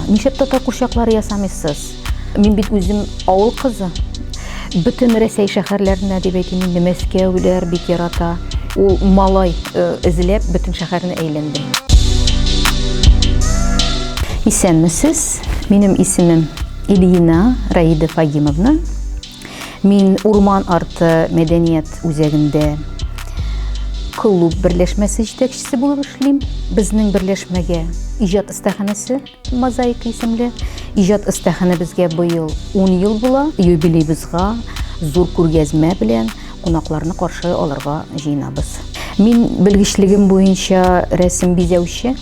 Нишләп татар курчаклары ясамыйсыз? Мин бит үзем авыл кызы. Бөтен Рәсәй шәһәрләренә дип әйтим инде Мәскәүләр бик ярата. Ул малай э, эзләп бөтен шәһәрне әйләнде. Исәнмесез. Минем исемем Ильина Раида Фагимовна. Мин Урман арты мәдәният үзәгендә клуб берләшмәсе җитәкчесе булып эшлим. Безнең берләшмәгә иҗат остаханәсе мозаика исемле иҗат остаханәбезгә быел 10 ел була. Юбилейбызга зур күргәзмә белән кунакларны каршы алырга җыенабыз. Мин белгечлегем буенча рәсем бизәүче.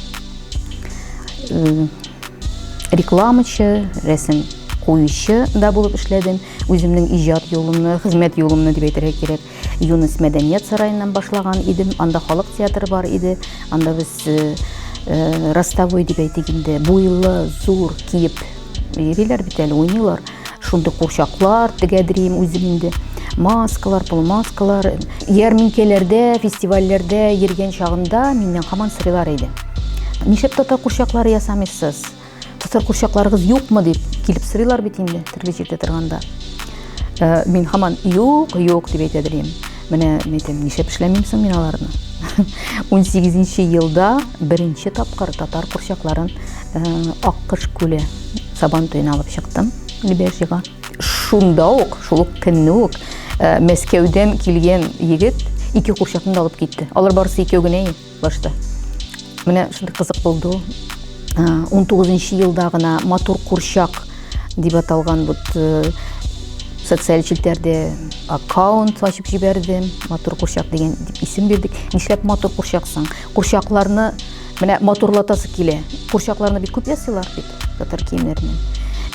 Рекламачы, рәсем куючы да булып эшләдем. Үземнең иҗат юлымны, хезмәт юлымны дип әйтергә кирәк. Юнус мәдәният сараеннан башлаган идем. Анда халык театры бар иде. Анда без э, э, ростовой дип әйтик инде, буйлы, зур киеп йөриләр бит әле, уйныйлар. Шундый курчаклар тегәдерим үзем инде. Маскалар, полумаскалар. Ярминкәләрдә, фестивальләрдә йөргән чагымда миннән һаман сорыйлар иде. Нишләп татар курчаклары ясамыйсыз? Татар курчакларыгыз юкмы дип килеп сорыйлар бит инде төрле җирдә торганда. Э, мин һаман юк, юк дип әйтә дим. Менә әйтәм, нишләп эшләмим соң мин аларны? 18 елда беренче тапкыр татар курчакларын э, Аккыш күле Сабан туен алып чыктым Лебяжьега. Шунда ук, шул ук көнне үк э, Мәскәүдән килгән егет ике курчакны да алып китте. Алар барысы икәү генә башта. Менә шундый кызык булды. 19 э, елда гына матур курчак дип аталган бу э, социаль челтәрдә аккаунт ачып җибәрдем. Матур курчак дигән дип исем бирдек. Нишләп матур курчаксың? Курчакларны Менә матурлатасы килә. Курчакларны бит күп ясыйлар бит татар киемнәреннән.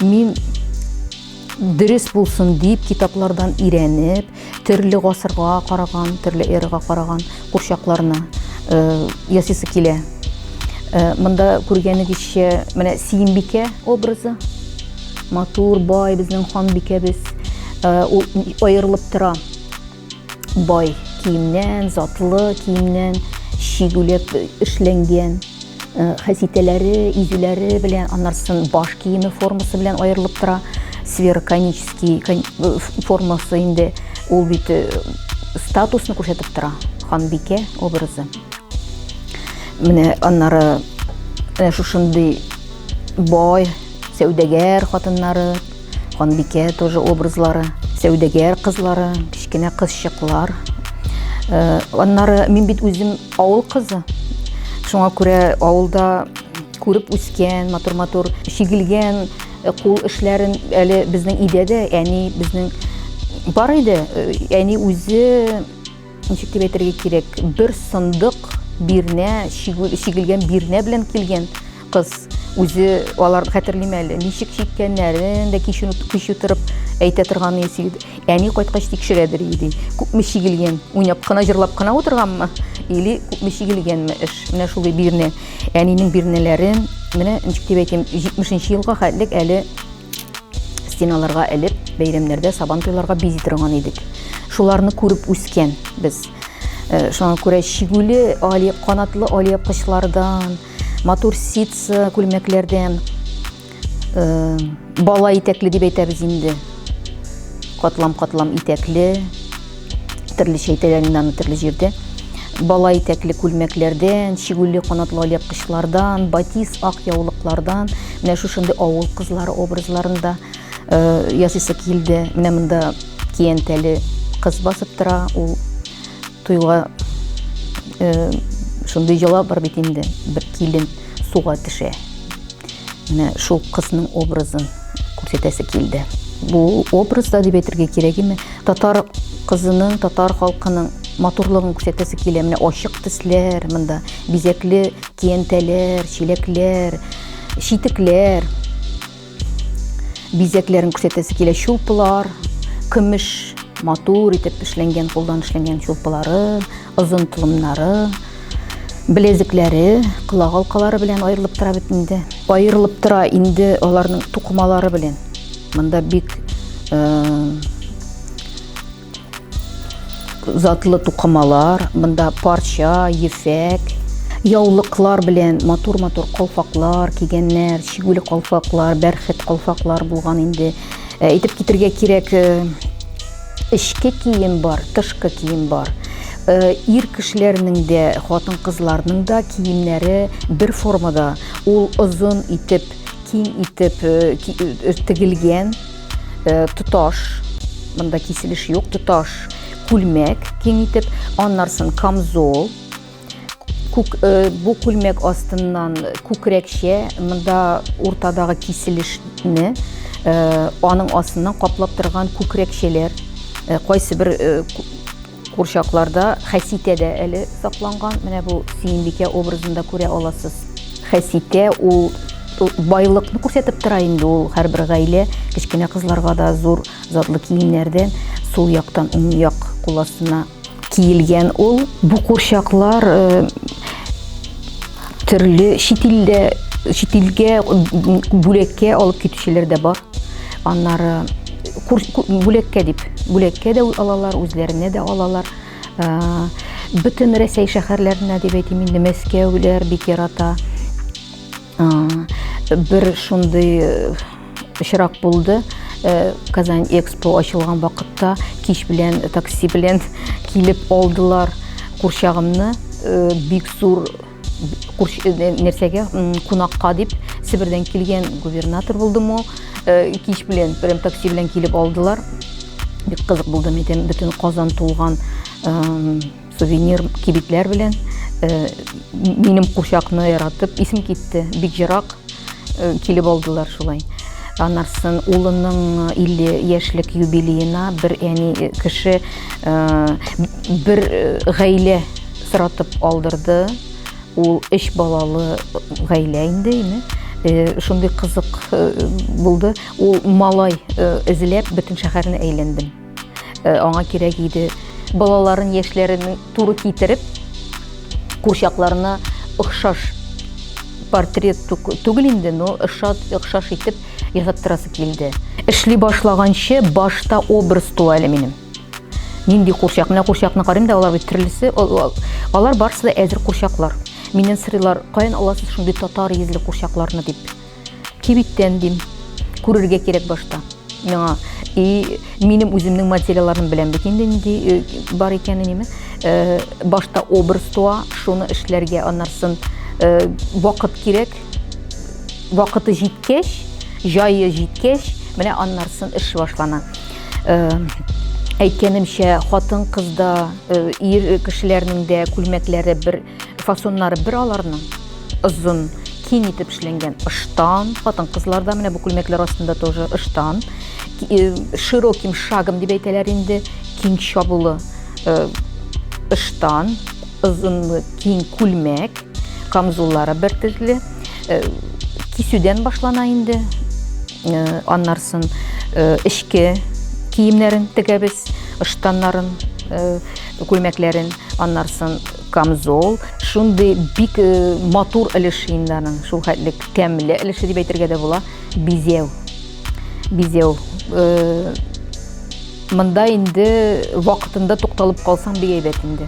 Мин дөрес булсын дип китаплардан өйрәнеп, төрле гасырга караган, төрле эрага караган курчакларны э, ясыйсы килә. Э, монда күргәнегезчә, менә Сиембикә образы. Матур, бай безнең ханбикәбез. Э, ул аерылып тора. Бай киемнән, затлы киемнән, чигүләп эшләнгән э, хәситәләре, изүләре белән, аннарсын баш киеме формасы белән аерылып тора. Сфера конический э, формасы инде ул бит э, статусны күрсәтеп тора. Ханбикә образы. Менә аннары шушындый бай сәүдәгәр хатыннары Ханбикә тоже образлары, сәүдәгәр кызлары, кечкенә кызчыклар. Э, аннары мин бит үзем авыл кызы. Шуңа күрә авылда күреп үскән, матур-матур чигелгән э, кул эшләрен әле безнең өйдә дә әни безнең бар иде. Э, әни үзе Ничек дип әйтергә кирәк, бер сындык бирнә, чигелгән бирнә белән килгән кыз үзе алар хәтерлим әле ничек чиккәннәрен дә кич кич утырып әйтә торган иде әни кайткач тикшерәдер иде күпме чигелгән уйнап кына җырлап кына утырганмы или күпме чигелгәнме эш менә шулай бирнә әнинең бирнәләрен менә ничек дип әйтим җитмешенче елга хәтлек әле Стеналарга элеп, бәйрәмнәрдә сабан туйларга бизи торган идек. Шуларны күреп үскән без. Э, шуңа күрә чигүле али канатлы али кышлардан, матур ситсы күлмәкләрдән э, бала итәкле дип әйтәбез инде. Катлам-катлам итәкле, Төрлечә итәләр инде аны төрле җирдә. Бала итәкле күлмәкләрдән, чигүле канатлы алъяпкычлардан, батиз ак яулыклардан, менә шушындый авыл кызлары образларында э, ясыйсы килде. Менә монда киянтәле кыз басып тора, ул туйга э, шундый йола бар бит инде, бер килен суга төшә. Менә шул кызның образын күрсәтәсе килде. Бу образда дип әйтергә кирәгеме? Татар кызының, татар халкының матурлыгын күрсәтәсе килә. Менә ачык төсләр монда, бизәкле киянтәләр, чиләкләр, читекләр. Бизәкләрен күрсәтәсе килә. Чулпылар, көмеш матур итеп эшләнгән, кулдан эшләнгән чулпылары. Озын тулымнары, белезекләре, колак алкалары белән аерылып тора бит инде. Аерылып тора инде аларның тукымалары белән. Монда бик э, затлы тукымалар, монда парча, ефәк, яулыклар белән матур-матур калфаклар кигәннәр, чигүле калфаклар, бәрхет калфаклар булган инде. Әйтеп китергә кирәк, эчке кием бар, тышкы кием бар. Э, ир кешеләрнең дә, хатын кызларның да киемнәре бер формада. Ул озын итеп, киң итеп э, э, тегелгән тоташ, монда киселеш юк, тоташ күлмәк киң итеп, аннарсын камзол, күк, э, бу күлмәк астыннан күкрәкчә монда уртадагы киселешне э, аның астыннан каплап торган күкрәкчәләр э, кайсы бер курчакларда хәситә дә әле сакланган менә бу сөембикә образында күрә аласыз хәситә ул байлыкны күрсәтеп тора инде ул һәрбер гаилә кечкенә кызларга да зур затлы киемнәрдән сул яктан уң як кул астына Киелгән ул бу курчаклар э, төрле чит илдә чит илгә бүләккә алып китүчеләр дә бар. Аннары бүләккә дип, бүләккә дә алалар, үзләренә дә алалар. Э, бөтен Рәсәй шәһәрләренә дип әйтим инде Мәскәүләр бик ярата. Бер шундый э, очрак булды. Э, Казань Экспо ачылган вакытта кич белән э, такси белән килеп алдылар курчагымны. Бик зур нәрсәгә кунакка дип Себердән килгән губернатор булдым ул. Кич белән прям такси белән килеп алдылар. Бик кызык булды, митен бөтен Казан тулган Сувенир кибетләр белән э, минем курчакны яратып исем китте. Бик ерак э, килеп алдылар шулай. Анарсын улының 50 э, яшьлек юбилеена бер әни кеше бер гаилә соратып алдырды. Ул өч балалы гаилә инде, име? Э, шундый кызык э, булды ул малай э, эзләп бөтен шәһәрне әйләндем э, аңа кирәк иде балаларын яшьләрен туры китереп курчакларына охшаш портрет түгел инде но охшаш итеп ясаттырасы килде эшли башлаганчы башта образ туа әле минем нинди курчак менә курчакны карыйм да алар бит төрлесе алар барысы да әзер курчаклар миннән сорыйлар каян аласыз шундый татар йөзле курчакларны дип Кибеттән дим. Күрергә кирәк башта. Миңа и минем үземнең материалларым белән бит инде нинди э, бар икәнен име. Э, башта образ туа, шуны эшләргә, аннарсын э, вакыт кирәк. Вакыты җиткәч, җайы җиткәч, менә аннарсын эш башлана. Әйткәнемчә, хатын-кызда, ир кешеләрнең дә күлмәкләре бер Фасоннары бер аларның озын, киң итеп эшләнгән ыштан, хатын-кызларда менә бу күлмәкләр астында тоже ыштан, э, широким шагом дип әйтәләр инде, киң чабулы э, ыштан, озынлы киң күлмәк, камзуллары бер төрле, э, кисүдән башлана инде, Аннарсын эчке киемнәрен тегәбез, ыштаннарын, күлмәкләрен, аннарсын камзол, шундый бик матур өлеш инданың, шул хәтлек тәмле өлеше дип әйтергә дә була, бизәү. Бизәү мында инде вакытында тукталып калсаң бик әйбәт инде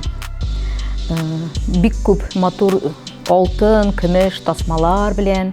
бик күп матур алтын көмеш тасмалар белән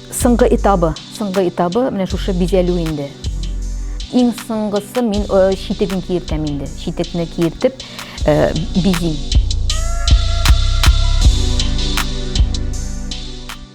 Соңгы этабы, соңгы этабы менә шушы бизәлү инде. Иң соңгысы мин э, читеген киертәм инде. Читекне киертеп э, бизим.